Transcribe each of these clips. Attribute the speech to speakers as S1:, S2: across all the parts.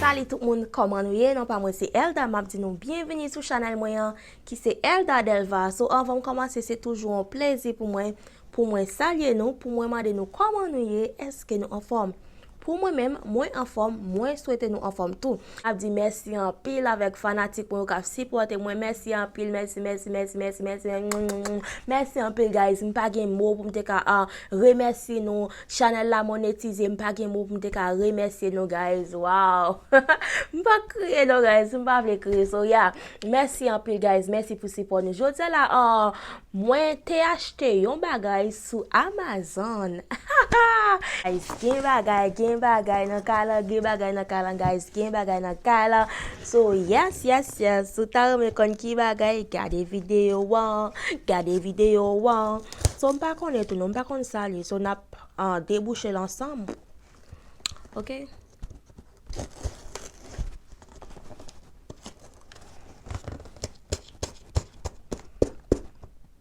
S1: Salut tout moun koman nou ye non pa mwen se Elda map di nou byenvini sou chanel mwen an ki se Elda Delva so anvan m komanse se toujou an plezi pou mwen pou mwen salye nou pou mwen mande nou koman nou ye eske nou anfòm Pou mwen menm mwen anfòm mwen swete nou anfòm tou. Map di mèsi anpil avèk fanatik mwen yo kap sipòte mwen mèsi anpil mèsi mèsi mèsi mèsi mèsi mèsi mèsi anpil guys m pa gen mo poum te ka remèsye nou chanèl la monetize m pa gen mo poum te ka remèsye nou guys waw m pa k kriye non guys m pa vle kriye so ya mèsi anpil guys mèsi pou sipò nou jodi la mwen te achte yon bagay Sou Amazon hahaa guys gen bagay gen bagay nan kay lan gen bagay nan kay lan guys gen bagay nan kay lan so yes yes yes si w ta renmen konn ki bagay gade video an gade video an so m pa konnen tou non m pa konn sa li so nap debouche l ansanm ok.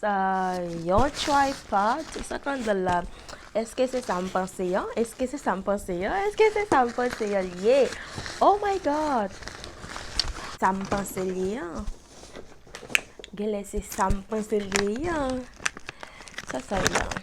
S1: Sa yon tripot? Sa konn di la? Eske se sa m panse an? Eske se sa m panse an? Eske se sa m panse an li ye? Oh my God! Sa m panse l ye an? Genlè se sa m panse l ye an? Sa sa ye an?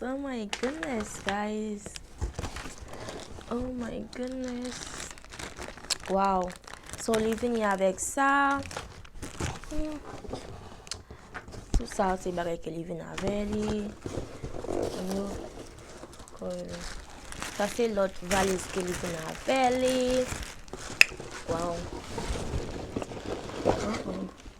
S1: Oh my goodness guys Oh my goodness Waw So li vini avèk sa Tout sa se bagay ke li vini avè li Sa se lòt valiz ke li vini avè li Waw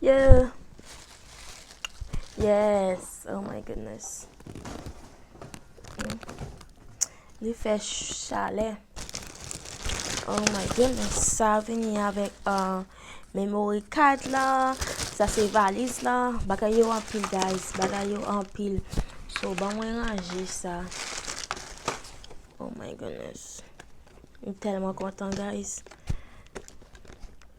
S1: Yeah. Yes. Oh my goodness. Li fè chalè. Oh my goodness. Sa vini avèk uh, memory card la. Sa se valiz la. Bagay yo anpil guys. Bagay yo anpil. So ban mwen ranje sa. Oh my goodness. M telman kontan guys.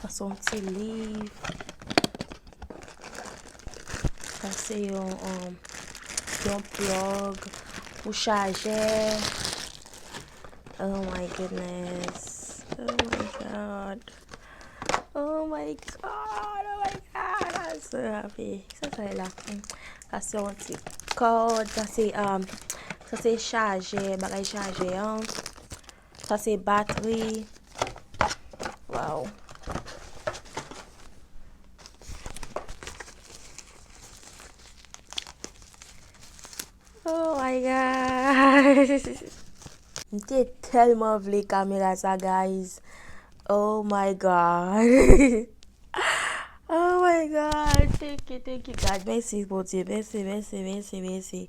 S1: Sa son ti liv. Sa se yon yon plug pou chaje. Oh my goodness. Oh my God. Oh my god, oh my god, I'm so happy. Sa sa e la? Sa se yon ti kòd, sa se, um, sa se chaje, bagay chaje an. Sa se batri. Wow. Oh my god. M te telman vle kamera sa guys oh my god. Oh my god thank you thank you god mèsi bondye mèsi mèsi mèsi mèsi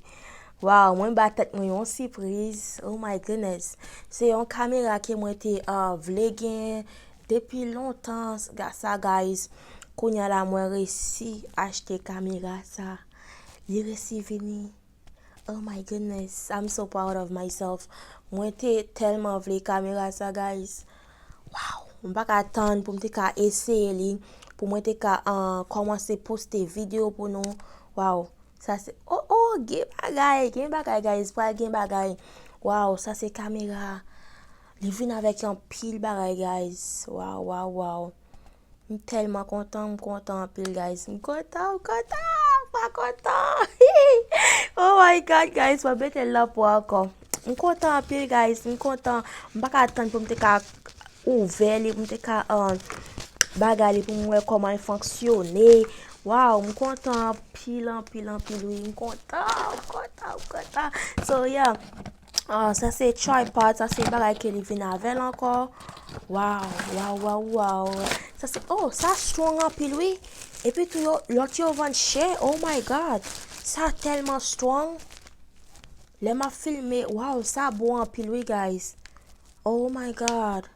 S1: waw mwen ba tèt mwen yon sipriz oh my goodness se yon kamera ke mwen te vle gen depi lontan sa guys kounya la mwen resi achte kamera sa. Li resi vini. Oh my goodness I'm so proud of myself mwen te telman vle kamera sa guys waw m pa ka tann pou m te ka eseye li pou mwen te ka komanse poste video pou nou waw sa se oh oh gen bagay gen bagay guys pral gen bagay waw sa se kamera li vin avek yon pil bagay guys waw waw waw. M telman kontan m kontan anpil guys m kontan m kontan m pa kontan oh my god guys map metel nan po anko m kontan anpil guys m kontan m paka tann poum te ka ouvè li poum te ka bagay li poum wè komanl fonksyone waw m kontan anpil anpil anpil wi m kontan m kontan m kontan so yeah. Ah, sa se tripod, sa se bagay ke li vin avèl ankò. Waw, waw, waw, waw. Sa se, oh, sa strong anpil wi. Epi tou yo, lòt yo vann chè, oh my God. Sa tèlman strong. Lè m ap filme, waw, sa bon anpil wi guys. Oh my God.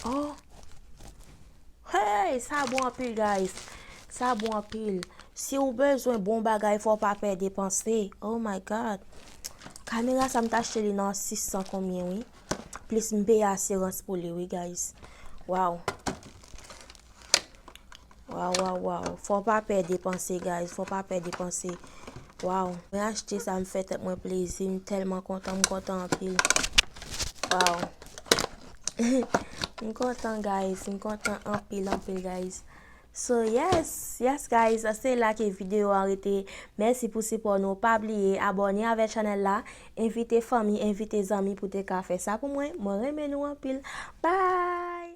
S1: Oh. Heyy sa bon anpil guys sa bon anpil si ou bezwen bon bagay fò pa pè depanse oh my god kamera sa m t achte li nan 600 konbyen wi plis m peye asirans pou li wi guys waw waw waw waw fò pa pè depanse guys fò pa pè depanse waw mwen achte sa m fè tèt mwen plezi m tèlman kontan m kontan anpil waw. M kontan guys, m kontan anpil anpil guys. So yes, yes guys, se la ke video an rete. Mèsi pou sipò nou, pa bliye abone avè chanèl la, envite fanmi, envite zanmi pou te ka fè sa pou mwen. Mwen renmen nou anpil. Bye!